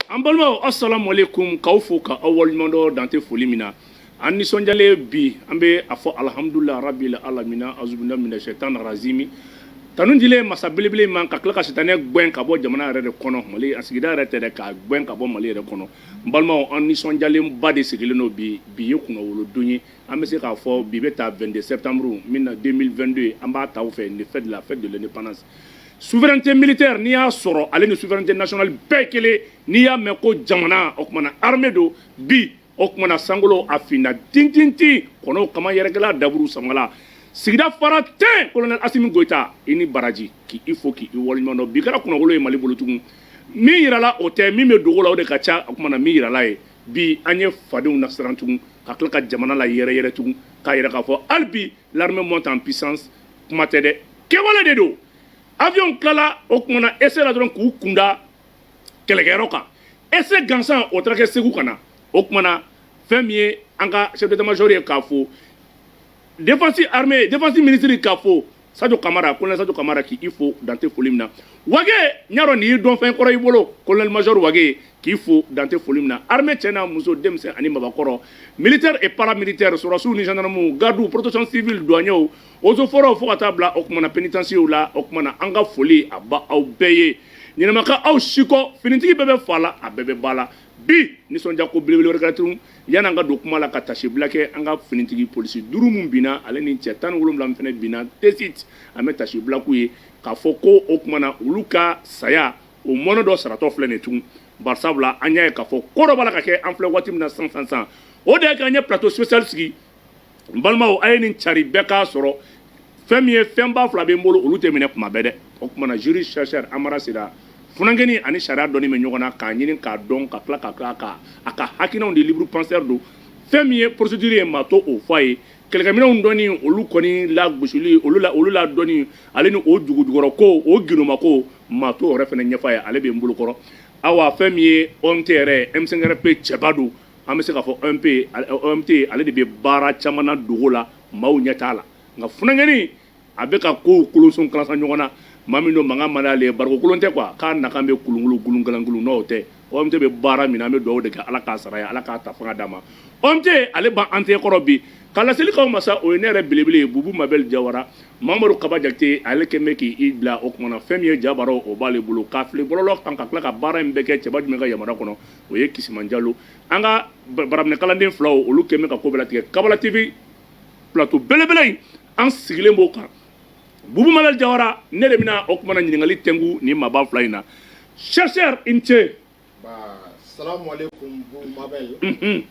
an balimaw asalamualeykum k'aw fo ka aw waleɲumandɔn dan tɛ foli min na an nisɔndiyalen bi an bɛ a fɔ alihamudulilayi rabili alamina azubina mina sɛtan razimi tanu dilen masa belebele ma ka tila ka sitanɛ gɛn ka bɔ jamana yɛrɛ de kɔnɔ mali a sigida yɛrɛ tɛ dɛ k'a gɛn ka bɔ mali yɛrɛ kɔnɔ n balimaw an nisɔndiyalenba de sigilen don bi bi ye kunnawolodon ye an bɛ se k'a fɔ bi bɛ ta 22 septembre min na 2022 an b'a ta u fɛ nin fête la fête de l'indépendance Souveraineté militaire n'i y'a sɔrɔ ale ni souveraineté nationale bɛɛ kelen n'i y'a mɛn ko jamana o tumana armée don bi o tumana sankolo a finna tintintin kɔnɔw kama yɛrɛkɛla daburu samala sigida fara tɛ colonel Asimi Goyita i ni baraji k'i fo k'i waleɲuman dɔn bi kɛra kunnawolo ye Mali bolo tugun min yirala o tɛ min bɛ dogo la o de ka ca o tumana min yirala ye bi an ye fadenw nasiran tugun ka tila ka jamana layɛrɛyɛrɛ tugun k'a yira k'a fɔ hali bi l'armée monte en puissance kuma tɛ dɛ kɛwale de don avion tilala o kumana essai la dɔrɔn k'u kun da kɛlɛkɛyɔrɔ kan essai gansan o taara kɛ segu ka na o kumana fɛn min ye an ka chef d'état major ye k'a fo défense armée défense ministre k'a fo sadio kamara colonel sadio kamara k'i fo dan tɛ foli min na wage n y'a dɔn nin y'i dɔn fɛn kɔrɔ i bolo colonel major wage k'i fo dan tɛ foli min na armée cɛ n'a muso denmisɛn ani mabakɔrɔ militaire et paramilitaire sɔrɔdasiw ni gendarmew gardiw protection civile douaniers eaux et forêts fo ka taa bila o kumana penitensiyew la o kumana an ka foli a b'aw bɛɛ ye ɲɛnamaka aw si kɔ finitigi bɛɛ bɛ fa la a bɛɛ bɛ ba la bi nisɔndiya ko belebele wɛrɛ ka tugun yanni an ka don kuma la ka tasibila kɛ an ka finitigi polisi duuru min binna ale ni cɛ tan ni wolonwula min fana binna tesit an bɛ tasibila k'u ye k'a fɔ ko o kumana olu ka saya o mɔnɛ dɔ saratɔ filɛ nin tugun barisabula an y'a ye k'a fɔ ko dɔ b'a la ka kɛ an filɛ waati min na san san san o de ye k'an ye plateau spécial sigi n balimaw a ye nin cari bɛɛ k'a sɔrɔ fɛn min ye fɛnba fila bɛ n bolo olu tɛ minɛ tuma bɛɛ dɛ o tumana juriste chercheur amara sila funankɛni ani sariya dɔnni bɛ ɲɔgɔn na k'a ɲini k'a dɔn ka tila ka tila ka a ka hakinanw di libre penseur don fɛn min ye procédure ye maa to o fɔ a ye kɛlɛkɛminɛnw dɔnni olu kɔni lagosili olu la olu la dɔnni ale ni o dugujukɔrɔ ko o gindoma ko maa to yɛrɛ fana ɲɛfɔ a ye ale bɛ n bolokɔrɔ awa fɛn min ye OMT yɛrɛ M5-RFP cɛba don an bɛ se k'a fɔ OMP OMT ale de bɛ baara caman na dogo la maaw ɲɛ t'a la nka funankɛnin a bɛ ka kow kolonson kalasa ɲɔgɔn na maa min don mankan man d'ale ye barikon kolon tɛ quoi k'a mankan bɛ kulunkulu gulunkalankulun n'o tɛ OMT bɛ baara min na an bɛ dugawu de kɛ Ala k'a sara ye Ala k'a ta fanga d'a ma OMT ale b'an tɛgɛ kɔrɔ bi ka laseli k'aw ma sa o ye ne yɛrɛ belebele ye Bubu Mabɛli Jawara Mamadu Kaba Jakite ale kɛlen bɛ k'i bila o tuma na fɛn min ye ja baaraw o b'ale bolo k'a fili bɔlɔlɔ kan ka tila ka baara in bɛɛ kɛ cɛba jumɛn ka yamaruya kɔnɔ o ye Kisima Jalo an ka baraminɛkalanden fila olu kɛ bɛ ka ko bɛɛ latigɛ Kabala TV plateau belebele in an sigilen b'o kan Bubu Mabɛli Jawara ne de bɛna o kumana ɲininkali tɛngu nin maaba fila in na chercheur i ni ce. Ba salamuhalekum Bubu Mabɛli. Unhun.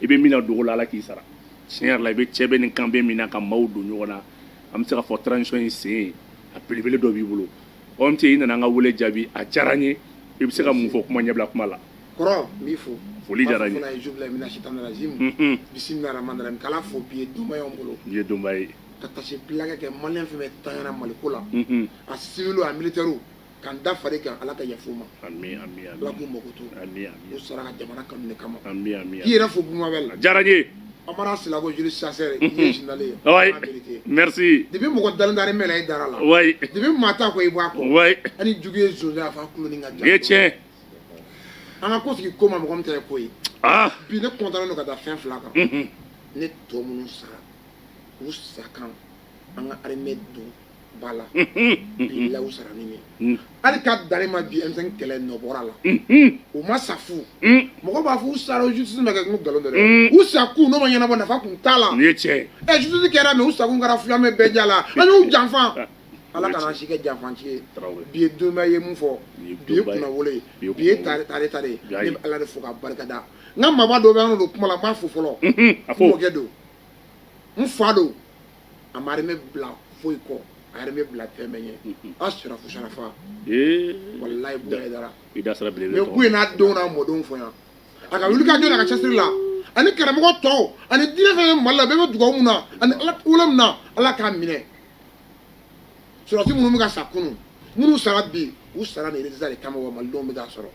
i bɛ min na dogo la ala k'i sara tiɲɛ yɛrɛ la i bɛ cɛbɛnni kan bɛ min na ka maaw don ɲɔgɔn na an bɛ se k'a fɔ transition in sen a belebele dɔ b'i bolo OMT i nana an ka wele jaabi a diyara n ye i bɛ se ka mun fɔ kuma ɲɛbila kuma la kɔrɔ n b'i fo foli diyara n ye bisimila rahman rahim k'ala fo bi ye donba y'an bolo bi ye donba ye ka taasibila kɛ maliyɛn fɛn o fɛn tanyana maliko la a siviliw a militɛriw ka n da fari kan ala ka yafa u ma Ami, ami, ami. ala k'u makoto Ami, ami. u sara u ka jamana kanu de kama Ami, ami, k'i ami. yɛrɛ fo Bubu Mabɛli A diyara n ye. amara silago juriste chercheur i ye jinale ye Wayi. À la vérité. Merci. depuis mɔgɔ dalen tɛ armée la i dara a la Wayi. depuis maa t'a kɔ i b'a kɔ Wayi. n'i jugu ye sonsan a fɔ kuloni ka Nin ye tiɲɛ. an ka ko sigi ko ma mɔgɔ min ta ye ko ye Ah. bi ne kɔntannen don ka da fɛn fila kan Mhm. ne tɔ minnu sara u sa kan an ka armée don ba la bi lawu sara ni min hali ka dalen ma bi M5 kɛlɛ nɔ bɔra a la u ma sa fu mɔgɔ b'a fɔ u sara justice ma kɛ n'u nkalon dɔrɔn ye u sa kun n'o ma ɲɛnabɔ nafa kun t'a la nin ye tiɲɛ ye ɛ justice kɛra mais u sa kun kɛra filamɛ bɛɛ ja la an y'u janfa ala kana an si kɛ janfanci ye bi ye donba ye mun fɔ bi ye kunnawolo ye bi ye tare tare tare ye ne bɛ ala de fo ka barika da n ka maaba dɔ bɛ an don kuma la n b'a fo fɔlɔ n mɔkɛ don n fa don a ma armée bila foyi kɔ a y'armée bila fɛn bɛɛ ɲɛ a sera fusarafa walayi bonya ye dara i da sera belebele mais ko in n'a denw n'a mɔdenw fɔ yan a ka wuli ka jɔ a ka cɛsiri la ani karamɔgɔ tɔw ani diinɛ fɛn o fɛn mali la bɛɛ bɛ dugawu min na ani ala wolo min na ala k'a minɛ sɔrɔdasi minnu bɛ ka sa kunu minnu sara bi u sara nin résultat de kama wa malidenw bɛ k'a sɔrɔ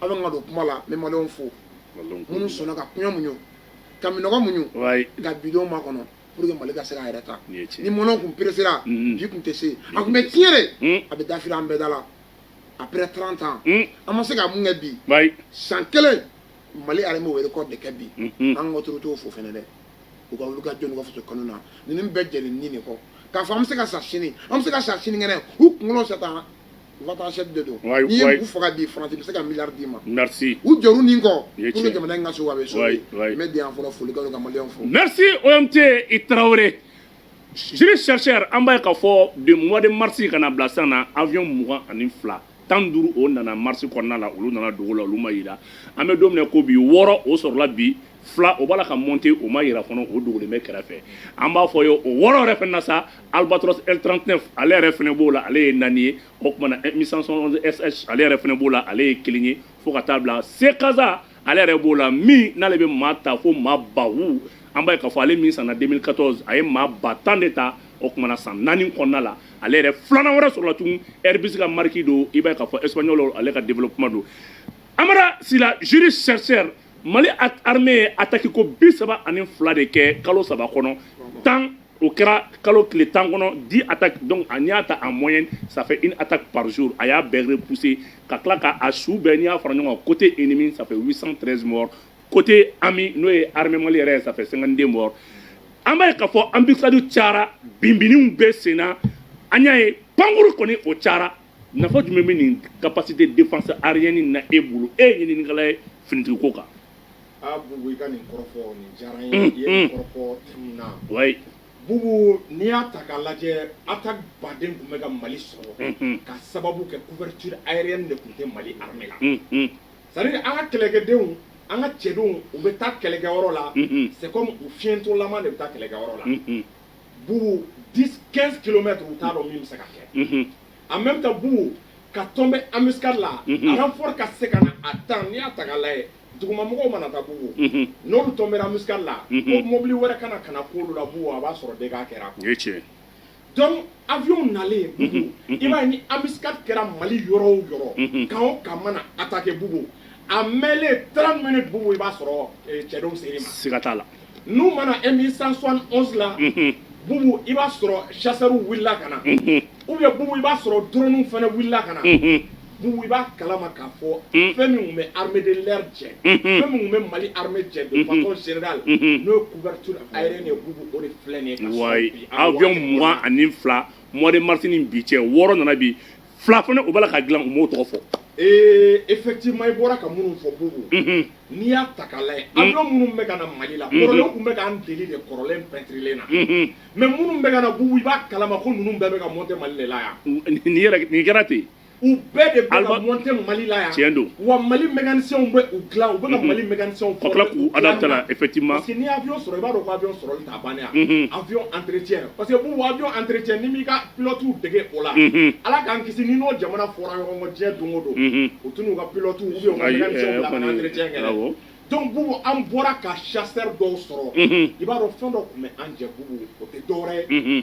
aw bɛ ka don kuma la n bɛ malidenw fo minnu sɔnna ka kɔngɔ muɲu ka minnɔgɔ muɲu ka bi don makɔnɔ pour que mali ka se k'a yɛrɛ ta ni mɔnɔ kun peresera mm-hmm. bi kun tɛ se a kun bɛ tiɲɛ de mm. a bɛ dafiri an bɛɛ da la après 30 ans mm. an ma se ka mun kɛ bi san kelen mali armée o record de kɛ bi mm-hmm. an ka autoritéw fo fɛnɛ dɛ u ka wulikajɔ n'u ka fasokanu na ninnu bɛɛ jɛr'u ni de kɔ k'a fɔ an bɛ se ka sa sini an bɛ se ka sa sinikɛnɛ u kunkolo sata u ka taa sɛti de don Wayi, n'i ye wayi. ninnu faga bi faransi bɛ se ka miliyari d'i ma merci u jɛr'u ni kɔ I ye pour que tiɲɛ. jamana in ka so a bɛ so Wayi, de wayi. n bɛ dan yan fɔlɔ foli ko la ka maliyɛnw fo Merci OMT Traoré juriste chercheur an b'a ye k'a fɔ de mois de mars ka na bila sisan na avion mugan ani fila tan ni duuru o nana mars kɔnɔna la olu nana dogo la olu ma yira an bɛ don min na ko bi wɔɔrɔ o sɔrɔla bi fila o b'a la ka monter o ma yira fana o dogolen bɛ kɛrɛfɛ an b'a fɔ ye o wɔɔrɔ yɛrɛ fana na sa Albatros L39 ale yɛrɛ fana b'o la ale ye naani ye o tumana Mi-171 SH ale yɛrɛ fana b'o la ale ye kelen ye fo ka taa bila C CASA ale yɛrɛ b'o la min n'ale bɛ maa ta fo maa ba wu an b'a ye k'a fɔ ale min sanna 2014 a ye maa ba tan de ta o tumana san naani kɔnɔna la ale yɛrɛ filanan wɛrɛ sɔrɔla tugun Airbus ka marque don i b'a ye k'a fɔ Espagnol ale ka développement don Amara Sila juriste chercheur mali armée ye ataki ko bi saba ani fila de kɛ kalo saba kɔnɔ tan o kɛra kalo tile tan kɔnɔ dix attaques donc n'i y'a ta en moyenne ça fait une attaque par jour a y'a bɛɛ repousser ka tila ka a su bɛɛ n'i y'a fara ɲɔgɔn kan côté ennemi ça fait 813 morts côté ami n'o ye armée mali yɛrɛ ye ça fait 52 morts an b'a ye k'a fɔ embuscade cayara binbiniw bɛ sen na an y'a ye pankuru kɔni o cayara nafa jumɛn bɛ nin capacité défense aérienne na e bolo e ye ɲininikɛla ye finitigi ko kan. ah Boubou i ka nin kɔrɔfɔ nin diyara n ye i ye nin kɔrɔfɔ thème na wayi Boubou n'i y'a ta k'a lajɛ attaque ba de tun bɛ ka Mali sɔrɔ k'a sababu kɛ couverture aérienne de tun tɛ Mali armée la c'est à dire an ka kɛlɛkɛdenw an ka cɛdenw u bɛ taa kɛlɛkɛyɔrɔ la c'est comme u fiyentɔlama de bɛ taa kɛlɛkɛyɔrɔ la. Boubou 10 15 kilomètres u t'a dɔn min bɛ se ka kɛ en même temps Boubou ka tɔnbɛ embuscade la renfort ka se ka na a tan n'i y'a ta k'a lajɛ dugumamɔgɔw mana taa Boubou n'olu tɔnbɛra embuscade la ko mobili wɛrɛ ka na ka na k'olu la Boubou a b'a sɔrɔ dégâts kɛra o ye tiɲɛ donc avion nalen Boubou i b'a ye ni embuscade kɛra mali yɔrɔ o yɔrɔ camp o camp mana attaquer Boubou a mɛɛnlen 30 minutes Boubou i b'a sɔrɔ cɛdenw ser'i ma siga t'a la N'u mana e min san sɔn la bubu i b'a sɔrɔ sasaw wulila ka na u ye bubu i b'a sɔrɔ dunun fana wulila ka na bubu i b'a kalama ka fɔ fɛn min bɛ hamid la cɛ fɛn minnu bɛ mali ha cɛ senda la n'o ye kubati a yɛrɛ nin bubu o de filɛ ye bi ani fila mɔni mas bi cɛ wɔɔrɔ nana bi fila fana u b'a la k'a dilan u m'o tɔgɔ fɔ ee effectivement i bɔra ka minnu fɔ bubu mhm. n'i y'a ta k'a lajɛ mhm. avion minnu bɛ ka na mali la mhm. kɔrɔlen u tun bɛ k'an deli de kɔrɔlen pɛntirilen na mais minnu bɛ ka na bubu i b'a kalama ko ninnu bɛɛ bɛ ka monter mali de la yan nin yɛrɛ nin kɛra ten u bɛɛ de bɛ ka monter mali la yan tiɲɛ don wa mali mécaniciens bɛ u dilan u bɛ ka mali mécaniciens k'u adapter la effectivement parce que n'i ye avion sɔrɔ i b'a dɔn ko avion sɔrɔli ka ban yan unhun avion entretien parce que bubu avion entretien n'i m'i ka pilotew dege o la unhun Ala k'an kisi n'i n'o jamana fɔra ɲɔgɔn kɔ diɲɛ don o don unhun u tɛn'u ka pilote ou bien u ka Ayi, mécanicien bila ka kɔni, na entretien kɛ dɛ awɔ. donc bubu an bɔra ka chasseur dɔw sɔrɔ unhun i b'a dɔn fɛn dɔ tun bɛ an jɛ bubu o tɛ dɔwɛrɛ ye unhun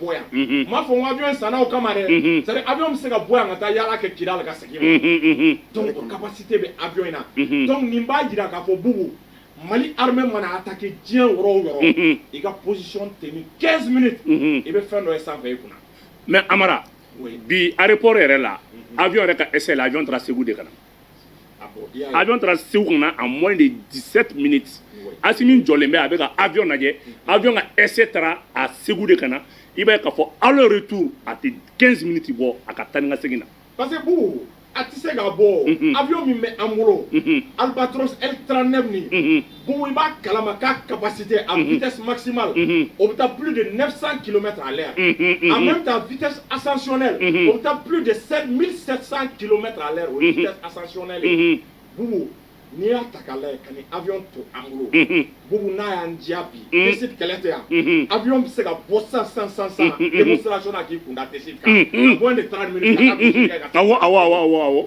bɔ yan n m'a fɔ n ko avion in sanna o kama dɛ c'est à dire avion bɛ se ka bɔ yan ka taa yaala kɛ kidal ka segin donc o capacité bɛ avion in na donc nin b'a jira k'a fɔ bubu mali armée mana attaquer diɲɛ yɔrɔ o yɔrɔ i ka position tenir 15 minutes i bɛ fɛn dɔ ye sanfɛ i kunna mais amara bi aéroport yɛrɛ la avion yɛrɛ ka essai la avion taara segu de ka na avion taara segu ka na à moins de 17 minutes asimi jɔlen bɛ a bɛ ka avion lajɛ avion ka essai taara a segu de ka na i b'a ye k'a fɔ aller retour a tɛ 15 minutes bɔ a ka taa ni ka segin na parce que bubu a tɛ se ka bɔ avion min bɛ an bolo albatros L39 nin bubu i b'a kalama k'a capacité à mhm. vitesse maximale mhm. o bɛ taa plus de 900 km à l'heure mhm, en même temps vitesse ascensionnelle o bɛ taa plus de 7700 km à l'heure o ye vitesse ascensionnelle ye bubu n'i y'a ta k'a lajɛ ka nin avion to an bolo bubu n'a y'an diya bi tessit kɛlɛ tɛ yan avion bɛ se ka bɔ sisan sisan sisan sisan demonstration na k'i kunda tessit kan en moins de 30 minutes ka taa mission kɛ ka taa awɔ awɔ awɔ awɔ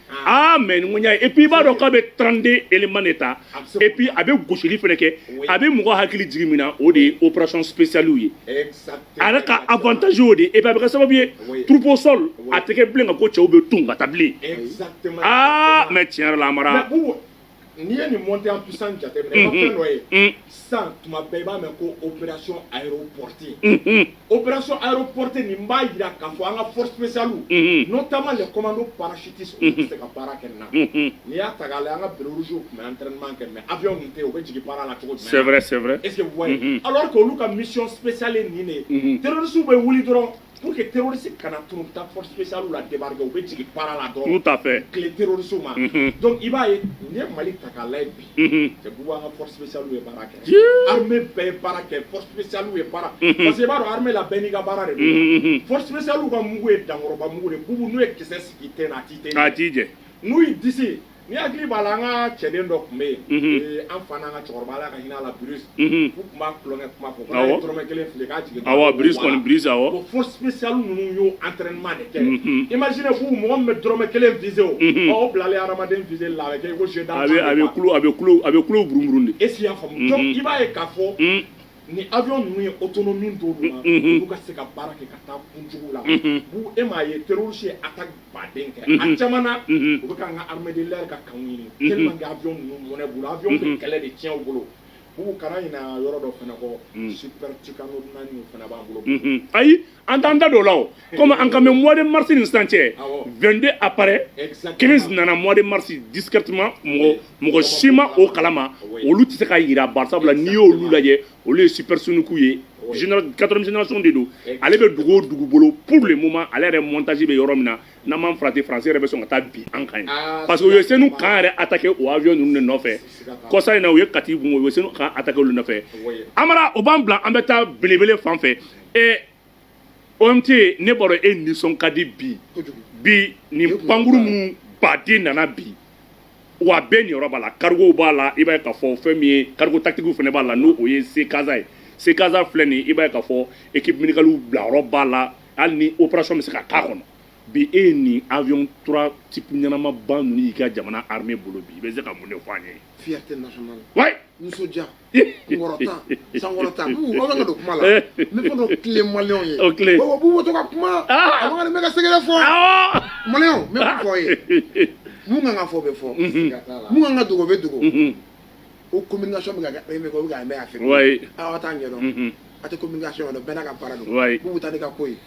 aa mais ni ŋunya et puis i b'a dɔn k'a bɛ 32 éléments de ta et puis a bɛ gosili fana kɛ a bɛ mɔgɔ hakili jigin min na o de ye opération spéciale ye a yɛrɛ ka avantage y'o de ye et puis a bɛ kɛ sababu ye troupe au sol a tɛ kɛ bilen ka ko cɛw bɛ tunu ka taa bilen aa mais tiɲɛ yɛrɛ la amara N'i ye nin mɔnte an fisan jate fɛn dɔ ye san tuma bɛɛ i b'a mɛn ko oererasi pɔte oererasi pɔte nin b'a jira ka fɔ an ka fɔsa n'o taama de kɔman don pasiti se ka baara kɛ na n'i y'a ta la an ka biereriw tun bɛ an tman kɛ mɛ abuy tɛ yen o bɛ jigin baara la cogo sɛɛrɛ e ala olu ka misisali nin de ye pɛrersu bɛ wuli dɔrɔn Pour que terroriste kana tunu ta force spéciale la débarquer u bɛ jigin baara la dɔrɔn tout à fait tilen terroriste ma donc i b'a ye n'i ye Mali ta k'a lajɛ bi bubu an ka force spéciale ye baara kɛ armée bɛɛ ye baara kɛ force spéciale ye baara parce que i b'a dɔn armée la bɛɛ n'i ka baara de don force spéciale ka mugu ye dankɔrɔba mugu de bubu n'u ye kisɛ sigi i ten na a t'i ten jɛ a t'i jɛ n'u y'i disi N'i hakili b'a la an ka cɛden dɔ tun bɛ yen ee an fa n'an ka cɛkɔrɔba ala ka hinɛ a la Bruce u tun b'a tulonkɛ kuma fɔ ko n'a ye dɔrɔmɛ kelen fili k'a jigin awɔ Bruce kɔni Bruce awɔ ko force spéciale ninnu y'o entraînement de kɛ imaginez vous mɔgɔ min bɛ dɔrɔmɛ kelen viser o ɔ o bilalen hadamaden viserli la a bɛ kɛ i ko jeu d'arc a bɛ a bɛ kulo a bɛ kulo a bɛ kulo burun burun de est ce que i y'a faamu donc i b'a ye k'a fɔ ni avion ninnu ye autonomie d'o de ma, unhun, olu ka se ka baara kɛ ka taa kun jugu la, unhun, bubu e m'a ye terroriste ye attaque baden kɛ, unhun, a caman na, unhun, u bɛ k'an ka armée de l'air ka campw ɲini, unhun, tellement que avion ninnu mɔnɛ b'u la, avion bɛ mhm. kɛlɛ de tiɲɛ u bolo, bubu kana ɲinɛ yɔrɔ dɔ fana kɔ, mhm. super Tucano naani fana b'an bolo, mhm. ayi an t'an da don o la o komi an kan bɛ mois de mars ni sisan cɛ 22 appareils 15 nana mois de mars discrètement mɔgɔ mɔgɔ si ma o kalama olu tɛ se ka yira bari sabula n'i y'olu lajɛ olu ye supersonique ye quatrième génération de don ale bɛ dugu o dugu bolo pour le moment ale yɛrɛ montage bɛ yɔrɔ min na n'an m'an farati français yɛrɛ bɛ sɔn ka taa bin an kan yen parce que u ye senu camp yɛrɛ attaquer o avion ninnu de nɔfɛ kɔsa in na u ye kati camp u ye senu camp attaquer olu nɔfɛ amara o b'an bila an bɛ taa belebele fan fɛ E OMT ne bolo e nisɔn ka di bi bi ni pankurun minnu baden nana bi wa bɛɛ niyɔrɔ b'a la cargo b'a la i b'a ye k'a fɔ fɛn min ye cargo tactique fana b'a la n' o ye C CASA ye C CASA filɛ nin i b'a ye k'a fɔ équipe médicale bila yɔrɔ b'a la hali ni opération bɛ se ka kɛ a kɔnɔ bi e ye nin avion type ɲɛnama ba ninnu y'i ka jamana armée bolo bi i bɛ se ka mun de fɔ an ye sankɔrɔta aw ka don kuma la ne ko don tile maliyɛnw ye o tile bubu b'u to ka kuma a man kan ne ka secret fɔ maliyɛnw n bɛ min fɔ a ye min kan ka fɔ bɛ fɔ min kan ka dogo bɛ dogo o communication bɛ ka kɛ bɛ ka mɛ a fɛ aw t'a ɲɛdɔn a tɛ communication dɔn bɛɛ n'a ka baara don k'u bɛ taa ne ka ko ye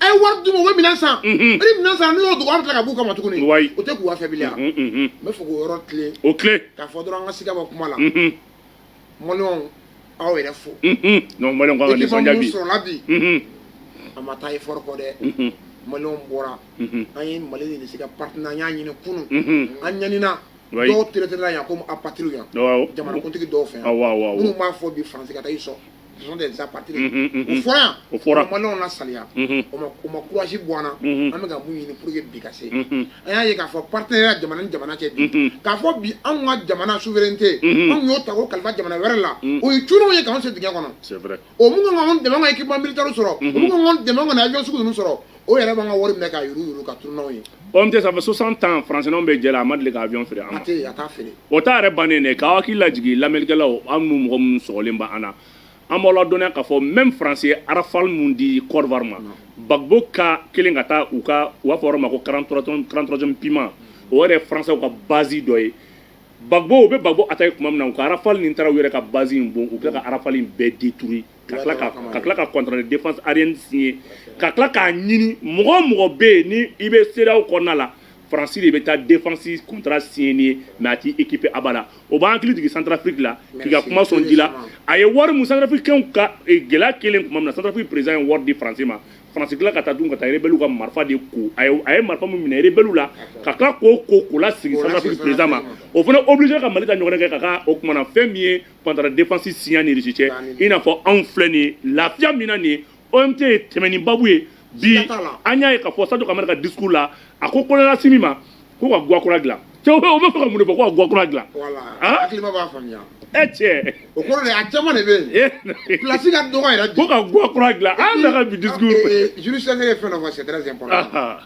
a ye wari d'u ma u bɛ minɛn san ni minɛn san n'u y'o dogo an bɛ tila ka b'u kama tuguni o tɛ k'u afɛbiliya n bɛ fɛ k'o yɔrɔ tilen o tilen k'a fɔ dɔrɔn an ka siga bɔ kuma la maliyɛnw aw yɛrɛ fo maliyɛnw ka nisɔndiya bi sɔrɔla bi a ma taa effort kɔ dɛ maliyɛnw bɔra an ye mali ni irisi ka partenariat ɲini kunun an ɲanina dɔw tereterela yan komi apatridew yan jamanakuntigi dɔw fɛ yan minnu b'a fɔ bi faransi ka taa ils sont sont des apatrides. Mm -hmm, mm -hmm. O fɔra yan. O fɔra. O ma maliyɛnw lasaliya. Mm -hmm. O ma o ma courage bɔ an na. Mm -hmm. An bɛ ka mun ɲini pour que bi ka se. Mm -hmm. An y'a ye k'a fɔ partenariat jamana ni jamana cɛ bi. Mm -hmm. K'a fɔ bi anw ka jamana souveraineté. Mm -hmm. Anw y'o ta k'o kalifa jamana wɛrɛ la. Mm -hmm. O ye cunniw ye k'anw se dingɛ kɔnɔ. C'est vrai. O min kan k'anw dɛmɛ ka équipement militaire sɔrɔ. Mm -hmm. O min kan k'anw dɛmɛ ka avion sugu ninnu sɔrɔ. o yɛrɛ b'an ka wari minɛ ka yuru yuru ka turu n'anw ye OMT ça fait 60 ans français n'an bɛ jɛ la a ma deli ka avion feere an ma a tɛ a t'a feere o ta yɛrɛ bannen dɛ k'aw hakili lajigin lamɛnnikɛlaw ani mɔgɔ minnu sɔgɔlen bɛ an na an b'aw ladɔnniya k'a fɔ même France ye Rafale minnu di Côte d'Ivoire ma Gbagbo ka kelen ka taa u ka u b'a fɔ yɔrɔ ma ko 43ème 43ème BIMA o yɛrɛ ye français ka base dɔ ye Gbagbo u bɛ Gbagbo attaquer tuma min na u ka Rafale nin taara u yɛrɛ ka base in bon u bɛ tila ka Rafale in bɛɛ détruit ka tila ka ka tila ka contrat de défense aérienne signé ka tila k'a ɲini mɔgɔ o mɔgɔ bɛ yen ni i bɛ CEDEAO kɔnɔna la faransi de bɛ taa défense contrat signé n'i ye mais a t'i équiper abada o b'an hakili jigin centrafrique la k'i ka kuma sɔn ji la a ye wari min centrafricainw ka gɛlɛya kɛlen tuma min na centrafrique président ye wari di faransi ma faransi tila ka taa dun ka taa rebelliw ka marifa de ko a ye a ye marifa min minɛ rebelliw la ka tila k'o ko k'o lasegin centrafrique président ma o fana obligé ka mali ta ɲɔgɔnna kɛ ka ka o kumana fɛn min ye partenariat défense an ni Risi cɛ i n'a fɔ anw filɛ nin ye lafiya min na nin ye omt ye tɛmɛn ni babu ye bi an y'a ye ka fɔ Sadio Camara ka discours la a ko colonel Assimi ma ko ka ga kura dilan o bɛ fɛ ka mun de fɔ ko ka ga kura dilan e cɛ o kɔrɔ de a caman de bɛ yen place ka dɔgɔ yɛrɛ ko ka ga kura dilan an ka bi discours sɛnɛ ye fɛn fɔ sɛ kɔnɔ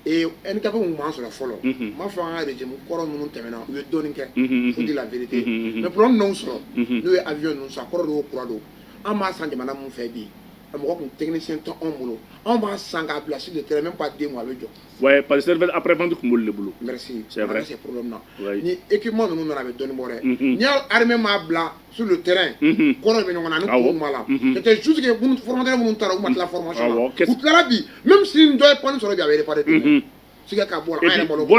N ka bɛ ma sɔrɔ fɔlɔ n ma fɔ an ka de kɔrɔ minnu tɛmɛna u ye dɔni kɛ n la mɛ p ninnu sɔrɔ n'u ye awy ninnu sa kɔrɔ don kura don an b'a san jamana min fɛ bi a mɔgɔ tun tɛmɛsɛn to anw bolo anw b'a san k'a bilasi de tɛmɛ b'a den a bɛ jɔ wa pa tun bolo bolo e' ninnu nana a bɛ dɔnni bɔra n y'amɛ' bila su tɛ kɔrɔ bɛ ɲɔgɔn ni kun ma la tɛ su tigɛ fmata minnu taara u ma tila fma u tila bi min sin dɔ ye sɔrɔ ja pa dɛ ska bɔ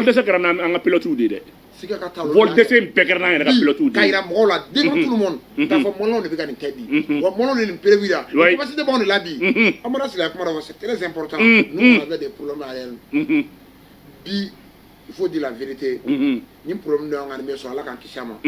dɛsɛse ka an ka plotigiw de dɛ dɛsɛse bɛɛ kɛra n' yɛrɛlotigiw ka jira mɔgɔw la den minnu taa fɔ mɔnɔnɔn de bɛ ka nin kɛ bi wa mɔn nin perebi la basi de b'aw de la bi an mana sigi a kuma se kelen sen pta bɛ de poro'a yɛrɛ bi il faut dire la vérité ni problème dɔ y'an ka sɔrɔ Ala k'an kisi a ma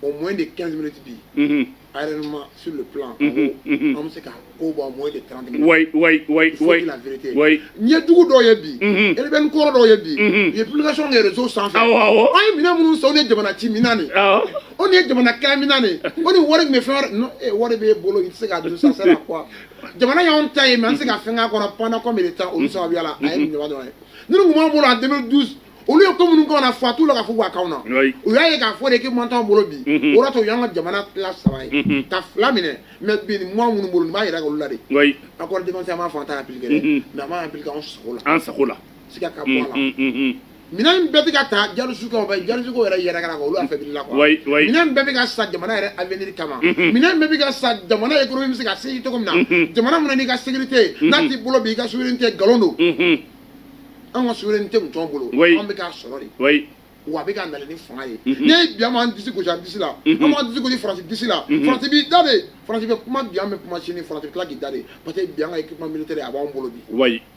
au moins de 15 minutes bi aériennement sur le plan an bɛ se ka ko bɔ au moins de 30 minutes oui oui oui il faut dire la vérité oui ɲɛjugu dɔw ye bi rebelle kɔrɔ dɔw ye bi u ye publication kɛ réseau sanfɛ awɔ awɔ an ye minɛn minnu san o de ye jamana ci minɛn de ye awɔ o de ye jamana kɛlɛ minɛn de ye o de wari tun bɛ fɛn wɛrɛ non ee wari b'e bolo i tɛ se k'a dun ça sert à quoi jamana y'anw ta ye mais an tɛ se ka fɛn k'a kɔnɔ pendant combien de temps olu sababuya la a ye nin ɲɔgɔn dɔrɔn ye ni nin tun b'an bolo en 2012 olu ye ko minnu k'anw na foyi t'u la ka fɔ k'a k'anw na u y'a ye k'a fɔ équipement t'anw bolo bi mhm. o de to u y'an ka jamana tila saba ye mhm. ka fila minɛ mais bi nin moyen minnu b'an bolo nin b'a yira k'olu la de accord défense an b'a fɔ an t'a appliquer dɛ mhm. mais an b'a appliquer anw sago la an sago la siga ka bɔ a la minɛn bɛɛ tɛ ka ta jalo Jatigiw yɛrɛ yɛrɛ kan olu fɛ la minɛn bɛɛ bɛ ka san jamana yɛrɛ a bɛ kama minɛn bɛɛ bɛ ka san jamana yɛrɛ bɛ se ka sécuriser cogo min na jamana min n'i ka sécurité n'a t'i bolo bi i ka souveraineté nkalon don an ka souveraineté tun t'an bolo an bɛ ka sɔrɔ de wa a bɛ ka na ni fanga ye n ye bi an disi gosi disi la an b'an disi gosi France disi la France b'i da de France bɛ kuma bi an bɛ kuma sini France tila k'i da de parce que bi an ka équipement militaire a b'an bolo bi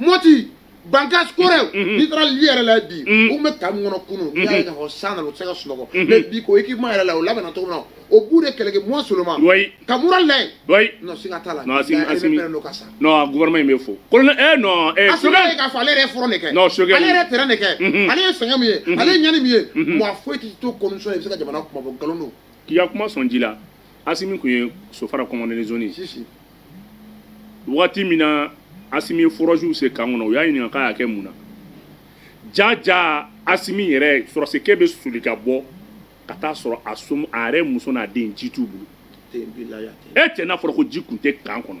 Mopti Bankass Koro n'i taara li yɛrɛ la bi u bɛ ka min kɔnɔ kunu n'i y'a ye k'a fɔ san nana u tɛ se ka sunɔgɔ mais bi ko équipement yɛrɛ la o labɛnna cogo min na o b'u de kɛlɛ kɛ moi seulement ka mura lɛ non siga t'a la mais pɛrɛn don ka sa non gouvernement in bɛ fo colonel eh non eh parce que ale k'a fɔ ale yɛrɛ ye front de kɛ non parce que ale yɛrɛ terrain de kɛ ale ye sɛgɛn min ye ale ye ɲani min ye mɔgɔ foyi tɛ to commission ye i bɛ se ka jamana kuma bɔ nkalon don k'i ka kuma sɔn ji la Asimi tun ye sofara commandant de zone waati min na Asimi ye forage sen camp kɔnɔ u y'a ɲininka k'a y'a kɛ mun na jaa jaa Asimi yɛrɛ sɔrɔdasikɛ bɛ soli ka bɔ ka t'a sɔrɔ a a yɛrɛ muso n'a den ji t'u bolo e cɛ n'a fɔra ko ji tun tɛ camp kɔnɔ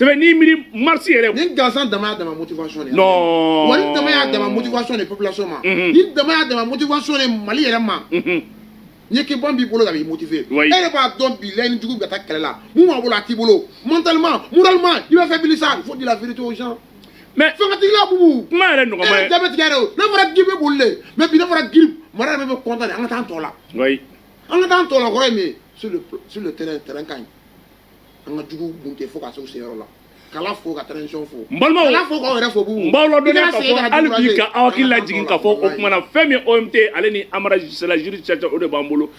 sɛbɛn n'i miiri marisi yɛrɛ. ni gansan dama y'a dama motivation de ye. non wa ni dama y'a dama motivation de population ma. Mhm. ni dama y'a dama motivation de mali yɛrɛ ma. Mhm. ni k'i bɔn b'i bolo ka b'i motiver. e yɛrɛ b'a dɔn bi laɲini jugu bɛ ka taa kɛlɛ la min b'a bolo a t'i bolo mentalement moralement i bɛ faiblir sa il faut dire la vérité aux gens. mais fangatigila bubu. kuma yɛrɛ nɔgɔma ye. e yɛrɛ da bɛ tigɛ yɛrɛ o n'a fɔra giri bɛ boli de mais bi n'a fɔra giri armée yɛrɛ bɛ content de an ka taa an tɔ la. an ka taa an tɔ la kɔrɔ ye min ye sur le sur le terrain terrain ka ɲi. an ka jugu kun tɛ fo ka se u seyɔrɔ la k'Ala fo ka transition fo n balimaw k'Ala fo k'aw yɛrɛ fo bubu n b'aw ladɔnniya k'a fɔ hali bi ka aw hakili lajigin k'a fɔ o tuma na fɛn min ye OMT ale ni Amara Gisela Jiri Caca o de b'an bolo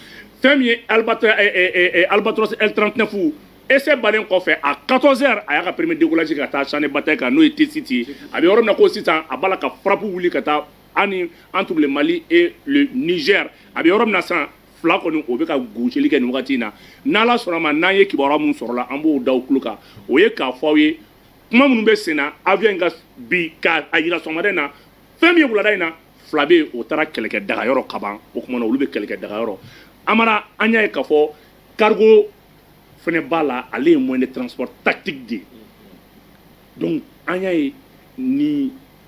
fɛn min ye Albatros eh, eh, eh, eh, Albatros L39 essai bannen kɔfɛ à 14 heures a y'a ka premier décollage ka taa champ de bataille kan n'o ye Tessit ye a bɛ yɔrɔ min na ko sisan a b'a la ka frappe wuli ka taa ani entre le Mali et le Niger a bɛ yɔrɔ min na sisan fila kɔni o bɛ ka gosili kɛ nin wagati in na n'ala sɔnna ma n'an ye kibaruya minnu sɔrɔla an b'o da aw tulo kan o ye k'a fɔ aw ye kuma minnu bɛ senna avion in ka bi ka a jira sɔgɔmada in na fɛn min ye wulada in na fila bɛ yen o taara kɛlɛkɛ dagayɔrɔ kaban o tuma na olu bɛ kɛlɛkɛ dagayɔrɔ amara an y'a ye k'a fɔ cargo fana b'a la ale ye moyen de transport tactique de ye donc an y'a ye ni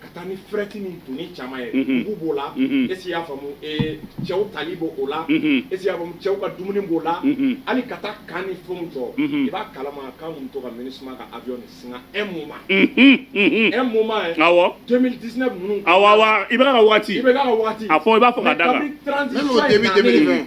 ka taa ni fret ni doni caman ye mugu b'o la esi y'a faamu cɛw tali b'o la esi y'a faamu cɛw ka dumuni b'o la hali ka taa camp ni fɛnw jɔ i b'a kalama k'a mun to ka MINUSMA ka avion de singa un moment un moment yɛ awɔ 2019 ninnu awɔ awɔ i bɛ ka waati i bɛ ka waati a fɔ i b'a fɔ ka da kan kabini 30 juin in nalen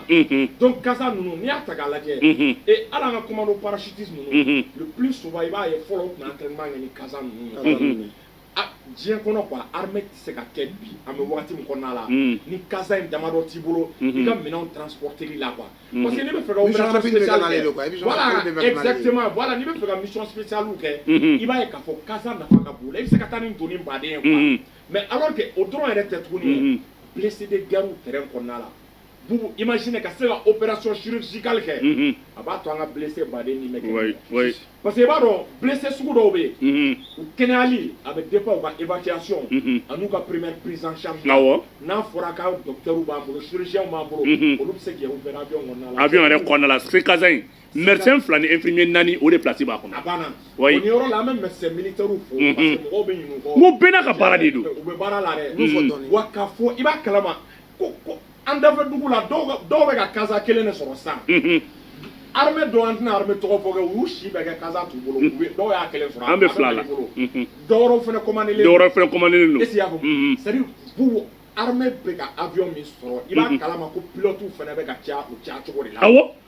dɔnku kasa ninnu n'i y'a ta k'a lajɛ ee ala an ka kuma don parasiti ninnu p soba i b'a ye fɔlɔ tun tɛ ɲɛ ni kasa ninnu diɲɛ kɔnɔ kuwa ha tɛ se ka kɛ bi an bɛ waati min kɔnɔna la ni kasa in damadɔ t'i bolo i ka minɛn tranptigi la qu parce que ne bɛ fɛ bɛ fɛ ka misɔnsi kɛ i b'a ye ka fɔ kasa nafa ka bolo i bɛ se ka taa ni don baden mɛ ala kɛ o dɔrɔn yɛrɛ tɛ tuguni bilisi de garir kɔnɔna la Vous imaginez ka se ka opération chirurgicale kɛ unhun a b'a to an ka blessé baden min bɛ kɛ oui oui parce que i b'a dɔn blessé sugu dɔw bɛ yen unhun u kɛnɛyali a bɛ dépend u ka évacuation unhun an'u ka première prise en charge awɔ n'a fɔra ko docteurw b'an bolo chirurgienw b'an bolo unhun olu bɛ se k'i opérer avion kɔnɔna la avion yɛrɛ kɔnɔna la CASA in médecin fila ni infirmier naani olu de place b'a kɔnɔ a banna oui o yɔrɔ la an bɛ médecin militaire fo parce que mɔgɔw bɛ ɲinɛ u kɔ n ko bɛɛ n'a ka baara de don u bɛ baara la dɛ n y'o fɔ dɔɔni wa k'a fɔ i b'a kalama ko ko an dafɛ dugu la dɔw bɛ ka CASA kelen de sɔrɔ san armée dɔw an tɛna armée tɔgɔ fɔ kɛ u y'u si bɛɛ kɛ CASA t'u bolo dɔw y'a kelen sɔrɔ an bɛ fila la dɔwɛrɛw fana commandé len dɔwɛrɛw fana commandé len don est ce que i y'a faamu c'est à dire pour armée bɛ ka avion min sɔrɔ i b'a kalama ko pilotew fana bɛ ka caya u caya cogo de la awɔ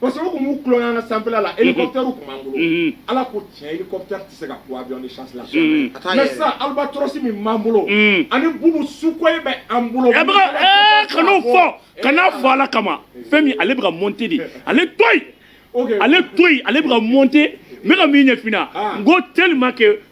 parce que o tun b'u tulonkɛ an ka sanfɛla la hélicoptère tun b'an bolo mhm. ala ko tiɲɛ hélicoptère tɛ se ka ko avion de chasse la mhm. mais sisan albatros min b'an bolo mhm. ani Boubou Sukhoi bɛ an bolo eh, eh, kan'o fɔ kan'a fɔ ala kama fɛn min ale bɛ ka monter de ale to yen ale to yen ale bɛ ka monter n bɛ ka min ɲɛf'i ɲɛna n ko tellement que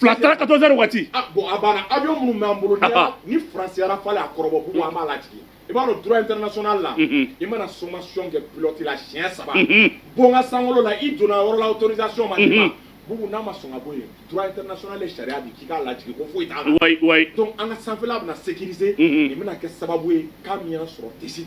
fila taara quatorze heures waati bon a banna avion minnu b'an bolo ni Faransi ya Rafale y'a kɔrɔbɔ Boubou an b'a lajigin i b'a dɔn droit international la i mana sommation kɛ pilote la siɲɛ saba bɔ n ka sankolo la i donna yɔrɔ la autorisation ma d'i ma Boubou n'a ma sɔn ka bɔ yen droit international ye sariya di k'i k'a lajigin ko foyi t'a la donc an ka sanfɛla bɛna sécuriser nin bɛna kɛ sababu ye ka min y'an sɔrɔ Tessit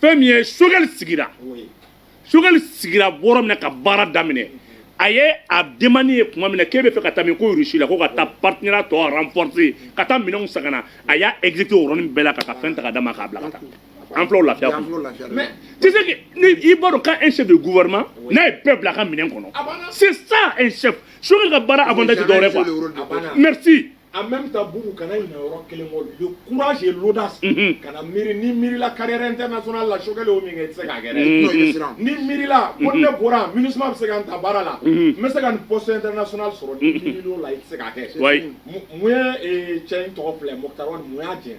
fɛn min ye Choguel sigira Choguel sigira yɔrɔ min na ka baara daminɛ a ye a demander tuma min na k'e b'a fɛ ka taa min ko rusi la ko ka taa partenariat tɔ renforcer ka taa minɛnw san ka na a y'a exécuter o yɔrɔnin bɛɛ la ka ka fɛn ta ka d'a ma k'a bila ka taa an filɛ o lafiya kɔnɔ mais tu sais que ni i b'a dɔn k'a un chef de gouvernement n'a ye bɛɛ bila a ka minɛn kɔnɔ c'est ça un chef Choguel ka baara avantage tɛ dɔwɛrɛ quoi merci en même temps Boubou kana ɲinɛ yɔrɔ kelen kɔ le courage et l'audace mhm. kana miiri n'i miirila carrière internationale la Choguel y'o min kɛ i tɛ se k'a kɛ dɛ mhm. n'i miirila ko mhm. ne bɔra MINUSMA bɛ se ka n ta baara la n bɛ se ka nin poste international sɔrɔ n'i miirila o la i tɛ se k'a kɛ mun ye cɛ in tɔgɔ filɛ Moctar Ouane mun y'a gɛn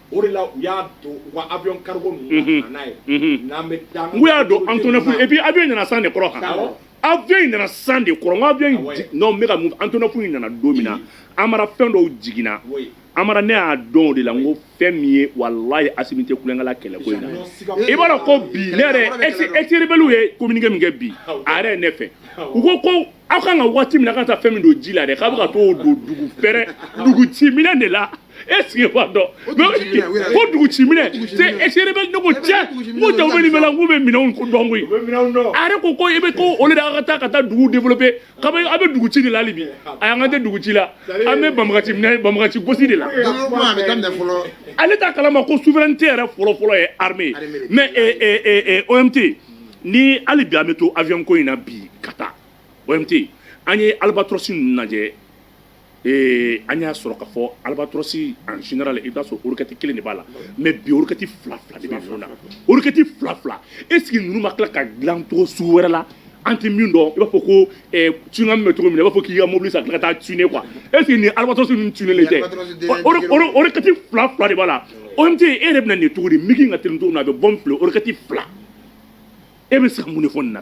O de la u y'a don u ka avion cargo ninnu na ka na n'a ye, unhun, n'an bɛ taa, n ko y'a don Antonov et puis avion in nana san de kɔrɔ kan, awɔ, avion in nana san de kɔrɔ, n ko avion in, awɔ, non n bɛ ka mun fɔ, Antonov in nana don min na, Amara fɛn dɔw jiginna, oui, Amara ne y'a dɔn o de la, n ko fɛn min ye walahi Asimi tɛ tulonkɛ la kɛlɛ ko in na, i b'a dɔn ko bi ne yɛrɛ ex ex rebelles ye communiqué min kɛ bi, awɔ, a yɛrɛ ye ne fɛ, awɔ, u ko ko aw ka kan ka waati min na aw ka kan ka taa fɛn min don ji la dɛ, k'a bɛ ka t'o don dugu fɛrɛ, dugu ci minɛn de la. est ce qu'i b'a dɔn ko dugu ci minɛn ex rebelles ko cɛ ko jaa u bɛ nin bɛɛ la k'u bɛ minɛnw ko dɔn koyi a yɛrɛ ko ko i bɛ ko olu de ka taa ka taa dugu développer ka bɛ a bɛ dugu ci de la hali bi ayi an ka tɛ dugu ci la an bɛ banbagaci minɛ banbagaci gosi de la ale t'a kalama ko souveraineté yɛrɛ fɔlɔfɔlɔ ye armée mais OMT ni hali bi an bɛ to avion ko in na bi ka taa OMT an ye albatros ninnu lajɛ ee an y'a sɔrɔ k'a fɔ albatɔrɔsi en général i b'a sɔrɔ worokɛti kelen de b'a la mais bi worokɛti fila fila de na worokɛti fila fila est-ce que ninnu ma tila ka dilan cogo sugu wɛrɛ la an tɛ min dɔn i b'a fɔ ko tun bɛ cogo min i b'a fɔ k'i ka mobili san ka taa tuner quoi est-ce que ni alabato tun tɛ worokɛti fila fila de b'a la o e yɛrɛ bɛna nin cogo di min ka tɛmɛ na a bɛ bɔ fila worokɛti fila e bɛ se ka mun fɔ na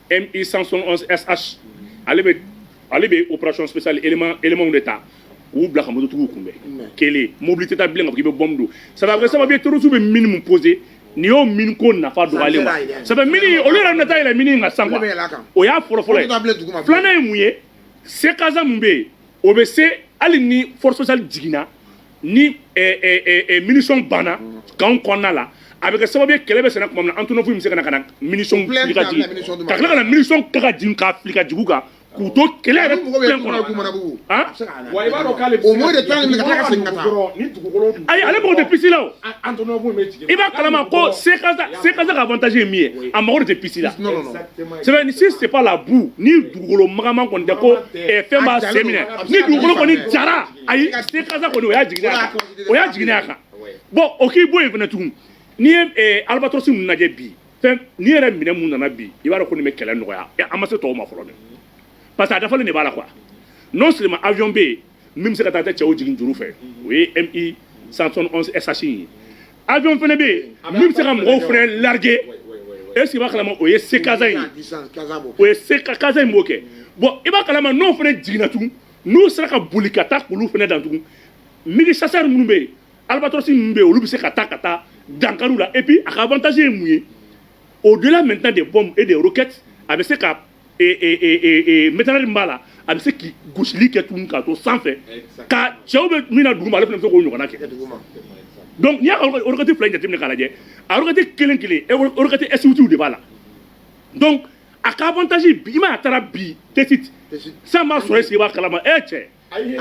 MI 171 SH ale bɛ ale bɛ opération spéciale éléments de ta k'u bila ka mototigiw kunbɛn kɛlɛ mobili tɛ taa bilen k'a fɔ k'i bɛ bombe don ça bɛ kɛ sababu ye terroriste bɛ mine min poser nin y'o mine ko nafa dɔgɔyalen ye ça fait mine in olu yɛrɛ bɛna taa yɛlɛ mine in kan sisan quoi o y'a fɔlɔ fɔlɔ ye filanan ye mun ye sekasa min bɛ yen o bɛ se hali ni force spéciale jiginna ni munition banna kan kɔnɔna la a bɛ kɛ sababu ye kɛlɛ bɛ senna tuma min an tun bɛ se ka ka mini ka ka mini ka ka jigin ka fili ka jugu kan k'u to kɛlɛ yɛrɛ ayi ale mago tɛ piste la i b'a kala ko a ka avantage ye min ye a mago tɛ piste la si c'est pas la boue ni dugukolo magaman kɔni ko fɛn' minɛ ni dugukolo kɔni jara ayi sekasa kɔni o y'a jiginna a kan o y'a jiginna a kan bon o k'i bɔ yen fana tugun n'i ye eh, albatɔrɔsi ninnu lajɛ bi fɛn n'i ye minɛn minnu nana bi i b'a dɔn ko nin bɛ kɛlɛ nɔgɔya Eh, an ma se tɔw ma fɔlɔ dɛ parce que a dafalen de b'a la quoi non seulement avion bɛ yen min bɛ se ka taa cɛw jigin juru fɛ o ye mi 171 sh in ye avion fana bɛ yen min bɛ se ka mɔgɔw fana larguer est ce que i b'a kalama o ye sekasa in ye o ye sekasa in b'o kɛ bon i b'a kalama n'o fana jiginna tugun n'u sera ka boli ka taa k'olu fana dan tugun MiG chasseurs minnu bɛ yen albatɔrɔsi ninnu bɛ yen olu bɛ se ka taa ka taa dankari u la et puis a ka avantage ye mun ye au delà maintenant des bombes et des roquettes a bɛ se ka mitrailleur min b'a la a bɛ se ka gosili kɛ tugun k'a to sanfɛ ka cɛw bɛ min na duguma ale fana bɛ se k'o ɲɔgɔnna kɛ donc n'i y'a ka roquette fila in jateminɛ k'a lajɛ a roquette kelen kelen roquette S8w de b'a la donc a ka avantage bi i ma a taara bi Tessit san b'a sɔrɔ est-ce que i b'a kalama e cɛ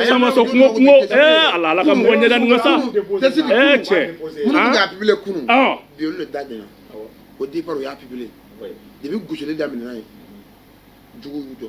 san b'a sɔrɔ kungo kungo ee ala ala ka mɔgɔ ɲɛda nin ka sa ee cɛ minnu bɛ k'a publier kunun bi olu de da ɲɛna au départ o y'a publier depuis gosili daminɛna yen juguw y'u jɔ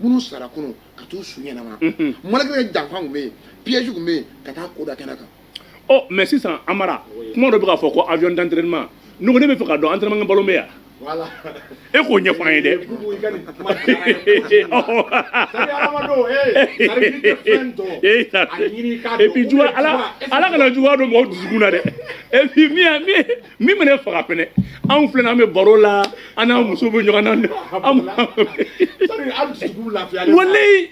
minnu sara kunun ka t'u su ɲɛnama malgré que janfan tun bɛ yen piège tun bɛ yen ka taa ko da kɛnɛ kan ɔ mais sisan Amara kuma dɔ bɛ ka fɔ ko avion d'entraînement ne ko ne bɛ fɛ ka dɔn entraînement ballon bɛ yan voilà e k'o ɲɛfɔ an ye dɛ Bubu, i ka nin kuma diyara n ye. Sari hadamadenw, eh, sari n'i tɛ fɛn dɔn, a ɲini i k'a dɔn. et puis Ou bien juguya ala juguya, est-ce que ala kana juguya don mɔgɔ dusukun na dɛ et puis min y'a min min bɛ ne faga fɛnɛ anw fila n'an bɛ baro la an n'an muso bɛ ɲɔgɔn na an walayi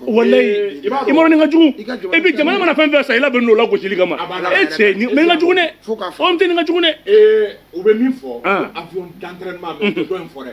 walayi i ma ni ka jugu e bi jamana mana fɛn fɛn san i labɛnn'o la gosili kama e cɛ ni mɛ n ka jugu dɛ o tɛ nin ka jugu dɛ u bɛ min fɔ avion d'entraînement mais u tɛ dɔ in fɔ dɛ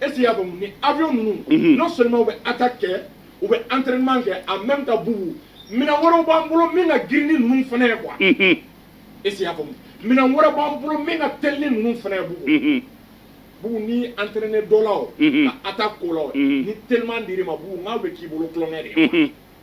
est-ce qu'i y'a faamu ni avion ninnu mhm. non seulement u bɛ attaque kɛ u bɛ entraînement kɛ en même temps Bubu minɛn wɛrɛw b'an bolo min ka girin ni ninnu fana ye quoi mhm. est-ce qu'i y'a faamu minɛn wɛrɛ b'an bolo min ka teli ni ninnu fana ye Bubu mhm. Bubu n'i entraîner dɔ la o ka attaque ko la o ni teliman dir'i ma Bubu n k'a bɛ k'i bolo tulonkɛ de ye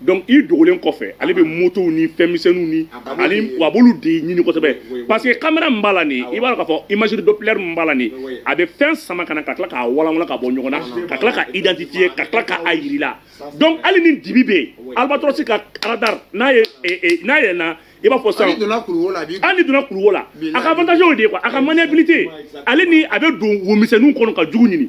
donc i dogolen kɔfɛ ale bɛ motow ni fɛnmisɛnninw ni ani a b'olu de ɲini kosɛbɛ parce que kamera min b'a la nin i b'a dɔn k'a fɔ imagerie doppler min b'a la nin a bɛ fɛn sama ka na ka tila k'a walanwalan ka bɔ ɲɔgɔn na ka tila ka identifier ka tila ka a yir'i la donc hali ni dibi bɛ yen albatrosi ka radar n'a ye eh, eh, n'a yɛlɛnna i b'a fɔ sisan hal'i donna kuluwo la a b'i hali n'i donna kuluwo la a ka avantage y'o de ye quoi a ka maniabilité ale ni a bɛ don womisɛnninw kɔnɔ ka jugu ɲini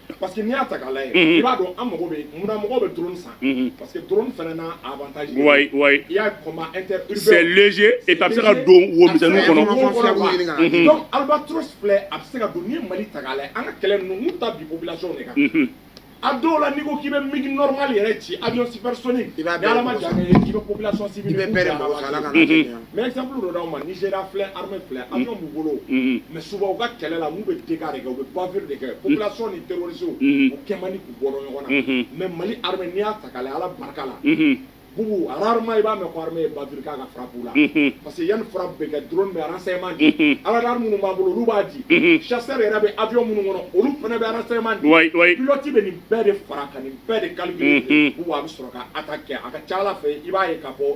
Parce que n'i y'a ta k'a lajɛ, unhun, i b'a dɔn an mago bɛ mun na mɔgɔw bɛ drone san, unhun, parce que drone fana n'a avantage de don, wayi wayi, i y'a ye combat inter urbain c'est léger et puis a bɛ se ka don wo misɛnniw kɔnɔ, unhun, donc albatros filɛ a bɛ se ka don n'i ye Mali ta k'a lajɛ an ka kɛlɛ ninnu n'u taa bin population de kan, unhun, a dɔw la n'i ko k'i bɛ mig normal yɛrɛ ci avion supersonique ni Ala ma jan kɛ i bɛ population civile i bɛ bɛɛ de mago sa Ala kana Mɛ ye sanpuru dɔ d'a ma ni sera filɛ hame filɛ an ka mun bolo mɛ suba u ka kɛlɛ la n'u bɛ de kɛ u bɛ bafiri de kɛ u bila sɔn ni tɛso u kɛ man k'u bɔ ɲɔgɔn na mɛ mali ha n'i y'a ta ka ala barika la bugu arahama i b'a mɛn hame ye bauru kan ka farabu la parce que yanni fara bɛ kɛ dɔrɔn bɛ arasɛma di ala minnu b'a bolo olu b'a di sari yɛrɛ bɛ awy minnu kɔnɔ olu fana bɛ arasɛma dulɔti bɛ nin bɛɛ de fara ka nin bɛɛ de kali a bɛ sɔrɔ ka a ka kɛ a ka ca ala fɛ i b'a ye ka bɔ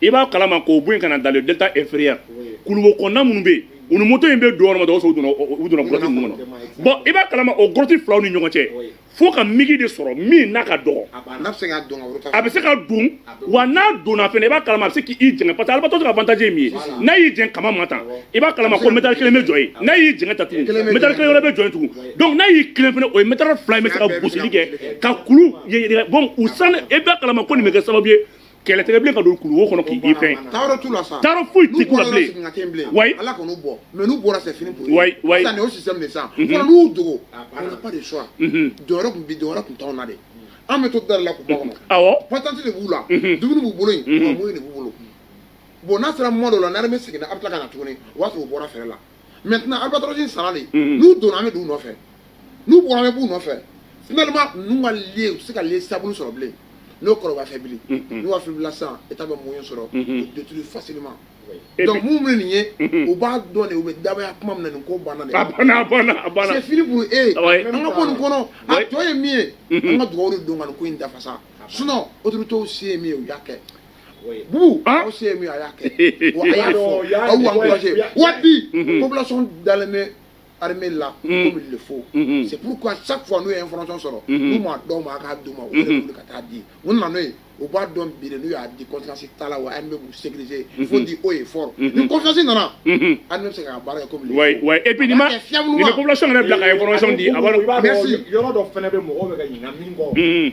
i b'a kalama k'o bɔ yen ka na dans le delta inférieur kuluwo kɔnɔna minnu bɛ yen u ni moto in bɛ don yɔrɔ min na dɔgɔso u donna u donna grotte ninnu kɔnɔ bon i b'a kalama o grotte filaw ni ɲɔgɔn cɛ fo ka mig de sɔrɔ min n'a ka dɔgɔ a bɛ se ka don wa n'a donna fɛnɛ i b'a kalama a bɛ se k'i jɛngɛ parce que albatros ka avantage ye min ye n'a y'i jɛngɛ kaman ma tan i b'a kalama ko métal kelen bɛ jɔ yen n'a y'i jɛngɛ tan tugun métal kelen wɛrɛ bɛ jɔ yen tugun donc n'a y'i tilen fɛnɛ o ye métal fila in bɛ se ka gosili kɛ ka kulu bon u san i b'a kalama ko nin bɛ kɛ sababu ye kɛlɛtigɛ bilen ka don kuluwo kɔnɔ k'i fɛn taayɔrɔ t'u la sa taayɔrɔ foyi tɛ k'u la bilen n'u bɔra ten bilen wayi Ala kan'u bɔ mais n'u bɔra c'est fini pour wayi wayi sisan nin y'o système de sisan fɔlɔ n'u y'u dogo on n'a pas de choix donyɔrɔ tun bi donyɔrɔ tun t'anw na de an bɛ to dara la k'u makɔnɔ awɔ patente de b'u la dumuni b'u bolo yen moyen de b'u bolo bon n'a sera moment dɔ la n'armée seginna a bɛ tila ka na tuguni o b'a sɔrɔ u bɔra fɛrɛ la maintenant albatros in sara de n'u donna bɛ don u nɔfɛ n'u bɔra bɛ b'u nɔfɛ finalement ninnu ka lieu se ka lieu stable sɔrɔ bilen n'o kɔrɔba fɛ bilen n'u ka fibila san i bɛ moyen sɔrɔ détruire facilement donc minnu bɛ nin ye u b'a dɔn de u bɛ dabaya kuma min nin ko banna fini b e an ka ko nin kɔnɔ a jɔn ye min ye an ka dugawu don ko in dafafasa sun o to se ye min ye u y'a kɛ bubu ah? aw se ye min a y'a kɛ wa a y'a fɔ aw y'an kɔlɔsi wa bi mhm. population dalen bɛ armée la mhm. comme il le faut mhm. c'est pourquoi chaque fois n'u ye information sɔrɔ n'u m'a dɔn ma k'a d'u ma u yɛrɛ bolo ka taa di u nana n'o ye u b'a dɔn bi de n'u y'a di conséquence t'a la wa armée b'u sécuriser il faut dire haut et fort ni confiance nana armée bɛ se k'a baara kɛ comme il le faut oui et puis ni ma ni bɛ population yɛrɛ bila ka information di a b'a dɔn merci yɔrɔ dɔ fana bɛ mɔgɔw bɛ ka ɲinɛ min kɔ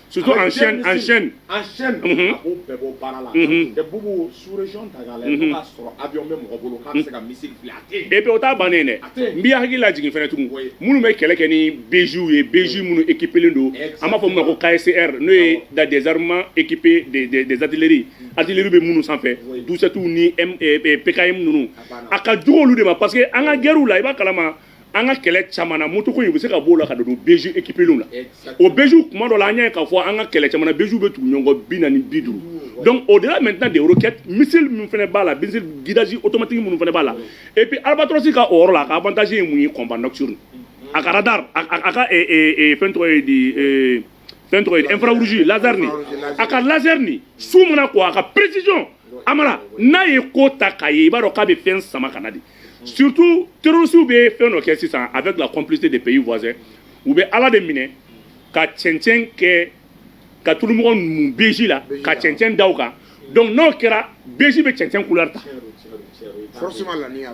Surtout en chaîne, en chaîne. En chaîne, a b'o bɛɛ bɔ baara la. Cɛ Bubu sous région ta k'a lajɛ, n'o y'a sɔrɔ avion bɛ mɔgɔ bolo k'a bɛ se ka missile fili a tɛ yen. Et puis o t'a bannen ye dɛ. A tɛ yen. N b'i hakili lajigin fana tugun. Oui. Minnu bɛ kɛlɛ kɛ ni BJ's ye, BJ's minnu équipés len don. Exactement. An b'a fɔ min ma ko KSR n'o ye dans des armements équipés des des des artilleries, artillerie bɛ minnu sanfɛ. Oui. 12 7 ni PKM ninnu. A banna. A ka jugu olu de ma parce que an ka guerres la, i b'a kalama. an ka kɛlɛ caman na moto ko in u bɛ se ka b'o la ka don BJ équipéw la o BJ kuma dɔ la an y'a ye k'a fɔ an ka kɛlɛ caman BJ bɛ tugu ɲɔgɔn bi naani bi duuru donc au-delà maintenant des roquettes missile min fana b'a la guidage automatique minnu fana b'a la et puis albatros ka rôle a ka avantage ye mun ye combat nocturne a ka radar a ka fɛn tɔgɔ ye di fɛn tɔgɔ infrarouge laser a ka laser nin su min ko a ka précision amadu n'a ye ko ta k'a ye i b'a dɔn k'a bɛ fɛn sama ka na de surtout terrorisiw bɛ fɛn dɔ kɛ sisan avec la complicité des pays voisins u bɛ Ala de minɛ ka cɛncɛn kɛ ka tulunɔgɔ mun BJ la ka cɛncɛn da u kan donc n'o kɛra BJ bɛ cɛncɛn couleur ta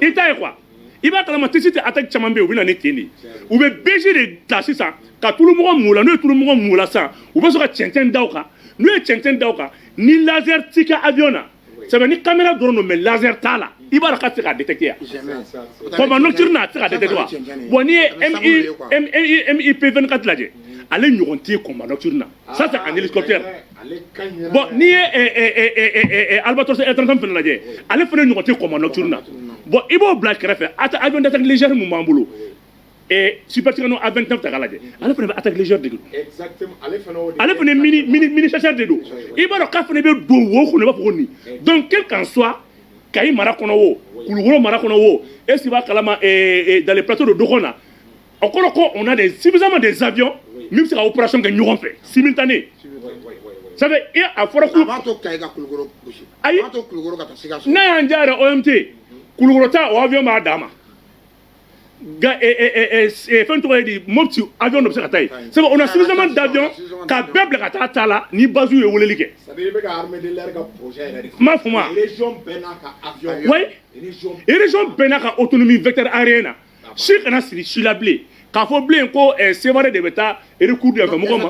i t'a ye quoi i b'a kalama Tessit attaque caman bɛ yen u bɛ na ni ten de ye u bɛ BJ de ta sisan ka tulunɔgɔ mun a la n'u ye tulunɔgɔ mun a la sisan u bɛ sɔrɔ ka cɛncɛn da u kan n'u ye cɛncɛn da u kan ni laser t'i ka avion na sabu ni caméra dɔrɔn don mais laser t'a la i b'a dɔn ka se ka détecter ya combat nocturne a tɛ se ka détecter wa bon n'i ye Mi 24 lajɛ ale ɲɔgɔn tɛ combat nocturne na ça c'est un hélicoptère bon n'i ye albatros L 39 fana lajɛ ale fana ɲɔgɔn tɛ combat nocturne na bon i b'o bila kɛrɛfɛ avion d'attaque légère min b'an bolo Super Tucano a bɛ ta ta lajɛ ale fana bɛ a taailez de ale fana minisa de don i b'a dɔn ka fana bɛ don wo kɔnɔ bɛ ko nin donc quel que soit Kayi mara kɔnɔ o Kulukɔrɔ mara kɔnɔ o e si b'a kalama dans les plateaux de dogon na a kɔrɔ ko on a suffisamment des avions min bɛ se ka opération kɛ ɲɔgɔn fɛ simultané sabu e a fɔra ayi n'a y'an diya yɛrɛ OMT Kulukɔrɔ ta o avion b'a dama fɛn tɔgɔ di Mɔti avion dɔ bɛ se ka taa sabu on a suffisamment d'avion ka bɛɛ bila ka taa ta la ni basiw ye wele kɛ kuma fɔ ma région bɛɛ n'a ka autonomie vecteur aérien na si kana siri si la bilen ka fɔ bilen ko Sevare de bɛ taa ku ma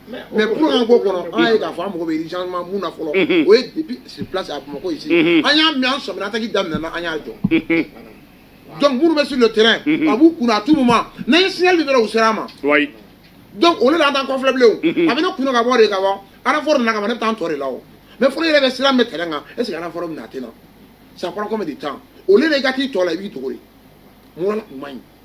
mais pour an ko kɔnɔ an y'a ye k'a fɔ an mago bɛ changement mun na fɔlɔ o ye depuis sur place à Bamakɔ ici an y'a mɛn an sɔmina attaque daminɛna an y'a jɔ donc minnu bɛ sur le terrain a b'u kunna à tout moment n'an ye signal di dɔrɔn u sera an ma donc olu la an t'an kɔfilɛ bilen o a bɛ ne kunna ka bɔ de ka bɔ renfort nana kama ne bɛ taa n tɔ de la o mais fɔlɔ yɛrɛ bɛ siran bɛ terrain kan est ce que renfort bɛ na a tɛ na ça prend combien de temps o la yanni i ka t'i tɔ la i b'i dogo de mun na u man ɲi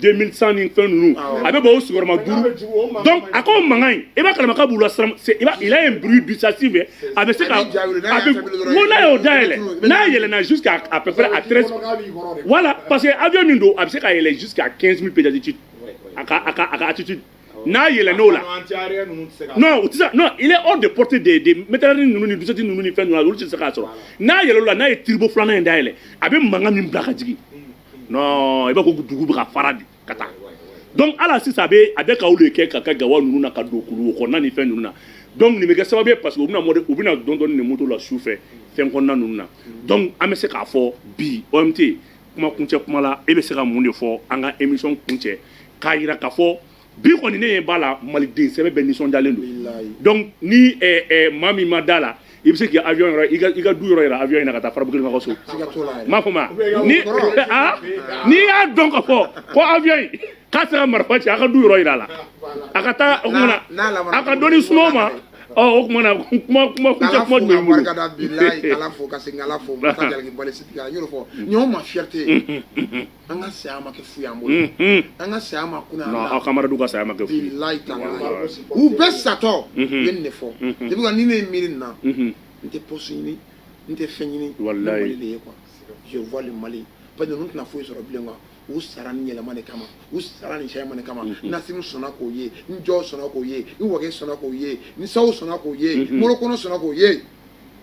2100 ni fɛn ninnu a bɛ bɔ o sigiyɔrɔma duuru donc a ko mankan in i b'a kalama k'a b'u lasiran i b'a il a un bruit dissuasif a bɛ se ka a bɛ n ko n'a y'o dayɛlɛ n'a yɛlɛna jusqu'à à peu près à 13 voilà parce que avion min don a bɛ se ka yɛlɛ jusqu'à 15000 pieds d'altitude a ka a ka a ka altitude n'a yɛlɛn'o la non u tɛ se non il est hors de portée des des mitrailleuses ninnu ni 12.7 ninnu ni fɛn ninnu olu tɛ se k'a sɔrɔ n'a yɛlɛn'o la n'a ye turbo filanan in dayɛlɛ a bɛ mankan min bila ka jigin non i b'a ko dugu bɛ ka fara de ka taa donc ala sisan a bɛ a bɛ ka olu de kɛ ka kɛ gawa ninnu na ka don kulu kɔnɔna ni fɛn ninnu na donc nin bɛ kɛ sababu ye parce que u bɛna mɔde u bɛ na dɔɔnin dɔɔnin moto la su fɛ fɛn kɔnɔna ninnu na donc an bɛ se k'a fɔ bi OMT kuma kuncɛ kuma la e bɛ se ka mun de fɔ an ka émission kuncɛ k'a jira k'a fɔ bi kɔni ne ɲɛ b'a la maliden sɛbɛ bɛɛ nisɔndiyalen don donc ni maa min ma da la i bɛ se k'i avion yɔrɔ i ka du yɔrɔ yira avion in na ka taa farabuguelema ka so n m'a faamuya ni aa n'i y'a dɔn ka fɔ ko avion in k'a sera marifa ci a ka du yɔrɔ yira a la a ka taa o kuma na a ka dɔnni suma ma ɔ o kuma na kuma kuma kuncɛ kuma jumɛn b'i bolo barika da bilayi k'ala fo ka segin k'ala fo masa jalakibali sigi la n y'o de fɔ ɲɔgɔn ma fierté an ka saya ma kɛ fu y'an bolo Unhun. an ka saya ma kunna Non, aw kamaradu ka saya ma kɛ fu ye. bilayi ta u bɛɛ satɔ u Mhm. ye nin de fɔ Mhm. depuis que ni ne ye miiri nin na Unhun. n tɛ poste ɲini n tɛ fɛn ɲini Walayi. ne mali de ye quoi je vois le mali parce que ninnu tɛna foyi sɔrɔ bilen quoi u sara ni yɛlɛma de kama u sara ni yɛlɛma de kama Mhm. n'Asimi sɔnna k'o ye n Jaw sɔnna k'o ye n wage sɔnna k'o ye n Sajo sɔnna k'o ye Mhm. Modibo Kone sɔnna k'o ye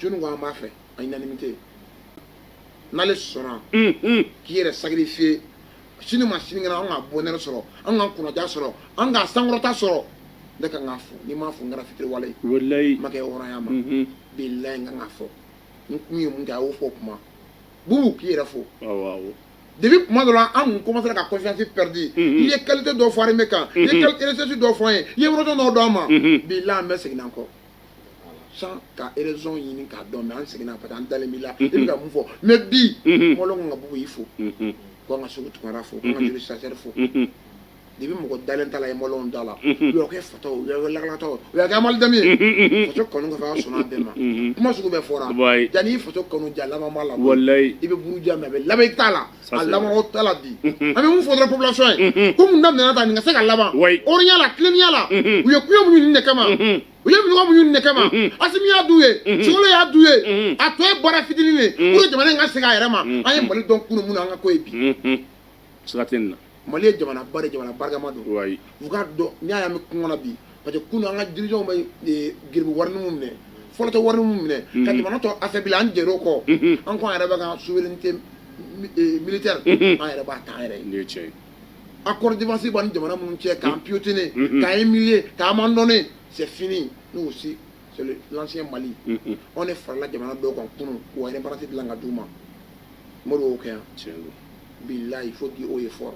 jɔnni ko an b'a fɛ en unanimité n'ale sɔnna k'i yɛrɛ sacrifier sini ni sinikɛnɛ an ka bonheur sɔrɔ an ka kunnadiya sɔrɔ an ka sankɔrɔta sɔrɔ ne ka kan k'a fɔ ni n m'a fɔ n kɛra fitiriwale ye walayi ma kɛ hɔrɔnya ma bilayi n ka kan k'a fɔ n kun ye mun kɛ a y'o fɔ o kuma bubu k'i yɛrɛ fo depuis kuma dɔ la an kun commencera ka confiance perdu i ye qualité dɔ fɔ armée kan i ye recherche dɔ fɔ an ye i ye yɔrɔjɔn dɔ d'an ma bilayi an bɛ segin an kɔ sans ka raison ɲini k'a dɔn mais an seginna parce que an dalen b'i la i bɛ ka mun fɔ mais bi mɔgɔ kan ka bubu fo ko an ka seku tunkara fo ko an ka joli sacré fo de bɛ mɔgɔ dalen t'a la ye mɔgɔw da la yɔrɔ kɛ fatɔ u y'a lakalata o y'a kɛ amadu dami ye faso kanu ka fɛ sɔnna bɛɛ ma kuma sugu bɛɛ fɔra yanni faso kanu ja laban b'a la walayi i bɛ buruja mais a bɛ laban i t'a la a laban o t'a la bi an bɛ mun fɔ dɔrɔn population ye ko min daminɛna ta nin ka se ka laban hɔrɔnya la tilennenya la u ye kɔngɔ muɲu nin de kama u ye minnɔgɔ muɲu nin de kama asimi y'a du ye sogɛli y'a du ye a tɔ ye baara fitinin de pour que jamana in ka segin a yɛrɛ ma an ye mali dɔn kunun min na an ka k'o ye bi siga tɛ nin na Mali ye jamana ba de jamana barikama don wa u k'a dɔn n'i y'a ye an bɛ kungo kɔnɔ bi parce que kunun an ka dirigeants bɛ eh, garibu warinin min minɛ fɔlɔ tɛ warinin min minɛ ka Mhm. jamana tɔ affaibli an jɛra o kɔ Mhm. an ko an yɛrɛ b'an ka souveraineté mi- eh, militaire Mhm. an yɛrɛ b'a ta an yɛrɛ ye nin ye tiɲɛ ye accord défense b'an ni jamana minnu cɛ k'an piétiner Mhm. k'an humilier k'an abandonner c'est fini nous aussi c'est le- l'ancien Mali Mhm. anw de farala jamana dɔw kan kunun k'u ka indépendance dilan ka d'u ma Modibo y'o kɛ yan tiɲɛ don bilayi fo di o ye fɔlɔ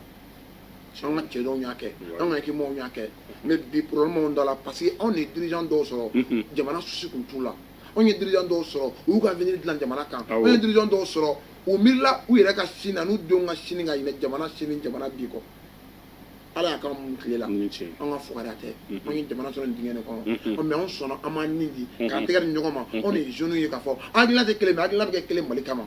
an ka cɛ dɔw y'a kɛ an ka ekimaw y'a kɛ mais bi problème de la parce que anw ye dirigeant dɔw sɔrɔ jamana souci tun t'u la anw ye dirigeant dɔw sɔrɔ u y'u ka avenir dilan jamana kan anw ye dirigeant dɔw sɔrɔ u miirila u yɛrɛ ka sini na n'u denw ka sini ka ɲinɛ jamana sini jamana bi kɔ ala y'a k'an mun tile la an ka fugariya tɛ an ye jamana sɔrɔ nin dingɛ de kɔnɔ mais anw sɔnna an b'an ni di k'an tɛgɛ di ɲɔgɔn ma anw de ye jeunes ye k'a fɔ an hakilina tɛ kelen mais hakilina bɛ kɛ kelen mali kama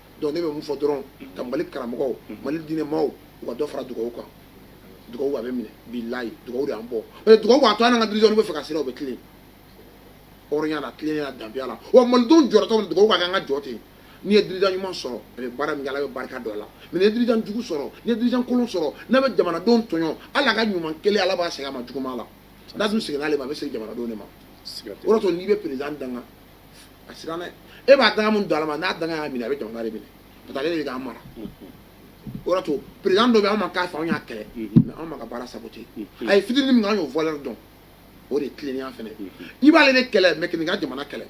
donc ne bɛ mun fɔ dɔrɔn ka mali karamɔgɔw mali diinɛ maaw u ka dɔ fara dugawu kan dugawu a bɛ minɛ bilayi dugawu de an bɔ dugawu a to an ka diri bɛ fɛ ka sira o bɛ tilen hɔrɔnya la tilennenya danbiya la wa malidenw jɔyɔrɔtɔ dugawu ka an ka jɔ ten n'i ye dirigeant ɲuman sɔrɔ a bɛ baara min bɛ barika don a la mais ni dirigeant jugu sɔrɔ ni dirigeant kolon sɔrɔ n'a bɛ jamanadenw tɔɔrɔ ala ka ɲuman kelen ala b'a segin a ma juguba la n'a dun seginna' ma a bɛ segin jamanadenw de ma o n'i bɛ président danga a siran dɛ e b'a danga mun don ala ma ni danga y'a minɛ a bɛ jamana de minɛ parce que ale de k'an mara o yɔrɔ to président dɔ bɛ anw ma k'a fɛ anw y'a kɛlɛ mais anw m'a ka baara saboter a ye fitini min kɛ an y'o valeur dɔn o de tilennenya fɛnɛ i b'ale de kɛlɛ mais kan'i ka jamana kɛlɛ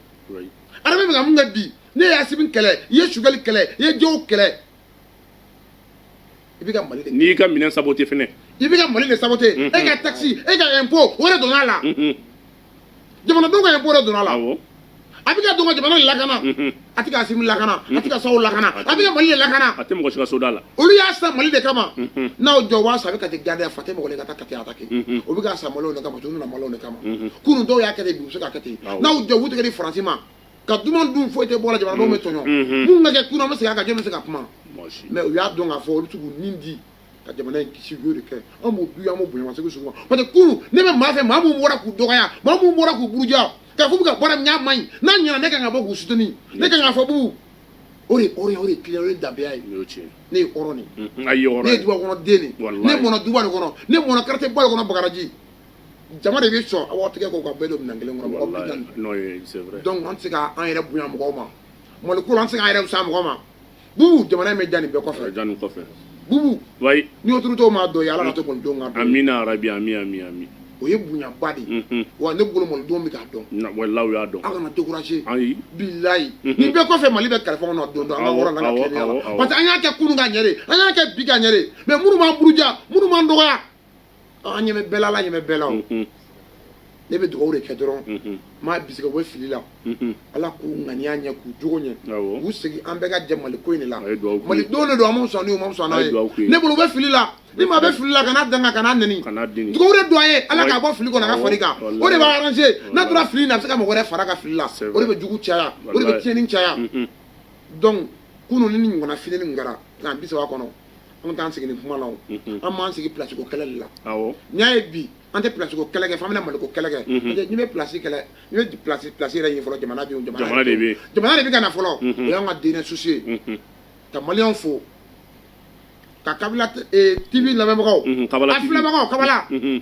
armée bɛ ka mun kɛ bi n'i ye asimi kɛlɛ i ye sogɛli kɛlɛ i ye jɔw kɛlɛ i bɛ ka mali de n'i y'i ka minɛn saboter fɛnɛ i bɛ ka mali de saboter e ka taxe e ka impôt o de donna a la jamanadenw ka ye bɔra donna la a bɛ ka don ka jamana lakana a tɛ ka asimi lakana a tɛ ka saw lakana a bɛ ka mali de lakana a tɛ mɔgɔ si ka soda la olu y'a sa mali de kama n'aw jɔ waa sa a bɛ ka tɛ gariya fa tɛ mɔgɔ de ka taa kati a ta kɛ o bɛ ka sa mali de kama tununna mali de kama kunun dɔw y'a kɛ de bi u bɛ se ka kɛ ten n'aw y'aw tigɛ di faransi ma ka duman dun foyi tɛ bɔ a la jamanadenw bɛ tɔɲɔ mun ka kɛ kunna an bɛ segin a kan jɔn bɛ se ka kuma mɛ u y'a dɔn k'a fɔ olu tugunin de ka jamana in kisi u y'o de kɛ an b'u du an b'u bonya ma segu sugu ma parce que kunu ne bɛ maa fɛ maa minnu bɔra k'u dɔgɔya maa minnu bɔra k'u buruja k'a fɔ ka baara min y'a man ɲi n'a ɲɛna ne ka kan ka bɔ k'u suteni ne ka kan ka fɔ bubu o de hɔrɔnya o de kiliya o ye danbeya ye ne ye hɔrɔn de ne ye duba kɔnɔ den de ne mɔna duba de kɔnɔ ne mɔna quartier ba de kɔnɔ bagadaji jama de bɛ so an tigɛ ko k'a bɛɛ don minɛn kelen kɔnɔ mɔgɔ bi naani donc an tɛ se k'an yɛrɛ bonya mɔgɔw ma mali ko la an tɛ se k'an yɛrɛ fisa mɔgɔ ma bubu jamana in bɛ diya nin bɛɛ kɔfɛ diya nin kɔfɛ bubu wayi ni o turutɔ m'a dun ye ala k'a to mɔden k'a dun amina arabi ami ami ami o ye bonyaba de ye mhm. wa ne bolo mɔden bɛ k'a dun walayi y'a dɔn aw kana découragé ayi bilayi mhm. nin bɛɛ kɔfɛ mali bɛ kalifa kɔnɔ don dɔ an ka wɔrɔ n'an ka tilennenya la parce que an y'a kɛ kunun ka ɲɛ de an y'a kɛ bi ka ɲɛ de mais minnu b'an buruja minnu b'an dɔgɔya an ɲɛ bɛ bɛɛ la ala ɲɛ bɛ bɛɛ la ne bɛ dugawu de kɛ dɔrɔn n m'a bisimila bɛ fili la ala k'u ŋaniya ɲɛ k'u jogo ɲɛ k'u segin an bɛɛ ka jɛ mali ko in de la mali don de don an sɔn ma sɔn ne bolo bɛ fili la ni maa bɛ fili la kan'a danga kan'a nɛni dugawu don a ye ala k'a bɔ fili kɔnɔ k'a fara i kan o de b'a arrangé n'a tora fili na a bɛ se ka mɔgɔ wɛrɛ fara a ka fili la o de bɛ jugu caya o de bɛ tiɲɛnini caya dɔnku kunun nin ɲɔgɔnna fili kɛra nka an bisimila kɔnɔ an bɛ taa an sigi nin kuma la o an b'an sigi place ko kɛlɛ de la awɔ n'i y'a ye bi an tɛ place ko kɛlɛ kɛ f'an bɛna maliko kɛlɛ kɛ parce que n'i bɛ place kɛlɛ n'i bɛ place place yɛrɛ ɲini fɔlɔ jamana bɛ yen jamana Jamana de bɛ yen. jamana de bɛ ka na fɔlɔ o y'an ka dernier souci ye ka maliyɛnw fo ka kabala t- eh, TV lamɛnbagaw Mhm, Kabala a TV. filɛbagaw kabala Mhm.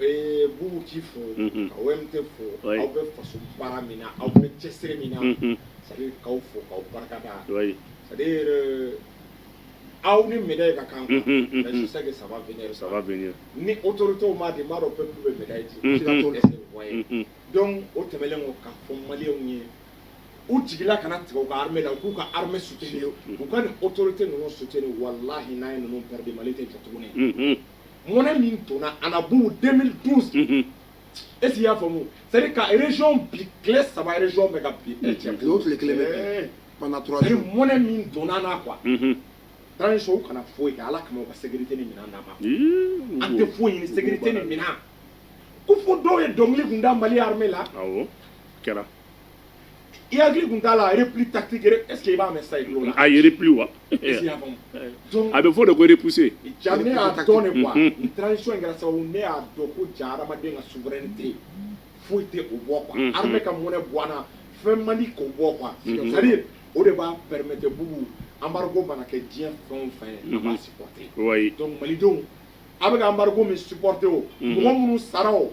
Ee bubu k'i fo ka wɛrɛ tɛ fo aw bɛ faso baara min na aw bɛ cɛsiri min na sakaw fo ka barikada aw ni minɛ ka kan sake saba saba ni o to tɔw ma de b'a dɔn bɛ bɛ minɛ ye dɔn o tɛmɛnlen ko ka fɔ mali ye u jigila kana tigɛ ka la k'u ka hamɛ sutigi ye u ka nin o to tɛ ninnu suteni wala hinɛina ye ninnu mali tɛ jate tuguni mɔnɛ min donna an na bubu 2012 unhun est ce que i y'a faamu c'est à dire ka région bin tile saba région bɛ ka bin ɛ cɛ tile o tile kelen bɛ bin ɛɛ pendant trois c'est à dire jours mɔnɛ min donna an na quoi unhun transition kana foyi kɛ ala kama u ka sécurité ni minɛn d'a ma Ii, an tɛ foyi ɲini sécurité ni minɛn kɔ fo dɔw ye dɔnkili kun da mali armée la awɔ kɛra I hakili tun t'a la repli tactique est ce que i b'a mɛn sisan i tulo la? A ye repli wa? Est ce que i y'a faamu? Donc a bɛ fɔ o de ko repousser. Ja ne y'a dɔn de quoi nin transition in kɛra sababu ne y'a dɔn ko ja hadamaden ka souveraineté foyi tɛ o bɔ quoi armée ka mɔnɛ bɔ an na fɛn man di k'o bɔ quoi c'est à dire o de b'a permettre bugu embargo mana kɛ diɲɛ fɛn o fɛn ye a b'a supporter donc malidenw an bɛ ka embargo min supporter o mɔgɔ minnu sara o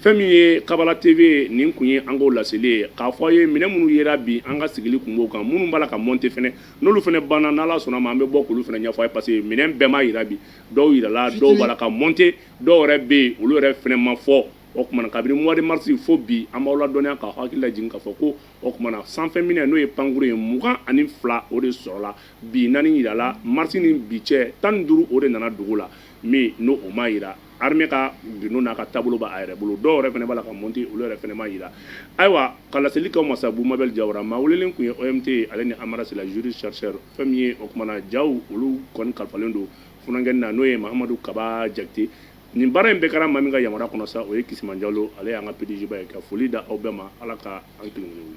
Fɛn min ye kabala TV nin kun ye an k'o laseli ye k'a fɔ aw ye minɛ minnu jira bi an ka sigili kun b'o kan minnu b'a la ka mɔnte fana n'olu fana banna n'Ala sɔnna a ma an bɛ bɔ k'olu fana ɲɛfɔ aw ye parce que minɛn bɛɛ ma jira bi dɔw jirala dɔw b'a la ka mɔnte dɔw yɛrɛ bɛ yen olu yɛrɛ fana ma fɔ o tuma na kabini mois de marisi fo bi an b'aw ladɔnniya ka hakililajigin ka fɔ ko o tuma na sanfɛ minɛ n'o ye pankurun ye mugan ani fila o de sɔrɔla bi naani jirala marisi ni bi cɛ tan ni duuru o de nana dugu la minɛ o ma jira armée ka minɛnw n'a ka taabolo b'a yɛrɛ bolo dɔw yɛrɛ fana b'a la ka mɔnte olu yɛrɛ fana ma jira ayiwa ka laseli kɛ aw ma sabu mabɛli jawara maa welelen kun ye o ye tɛ ale ni amara sila juriste chercheur fɛn min ye o tuma na ja olu kɔni kalifalen don funankɛ na n'o ye mamadu kaba jakite nin baara in bɛɛ kɛra maa min ka yamaruya kɔnɔ sa o ye kisima jalo ale y'an ka pdg ba ye ka foli da aw bɛɛ ma ala ka an kelen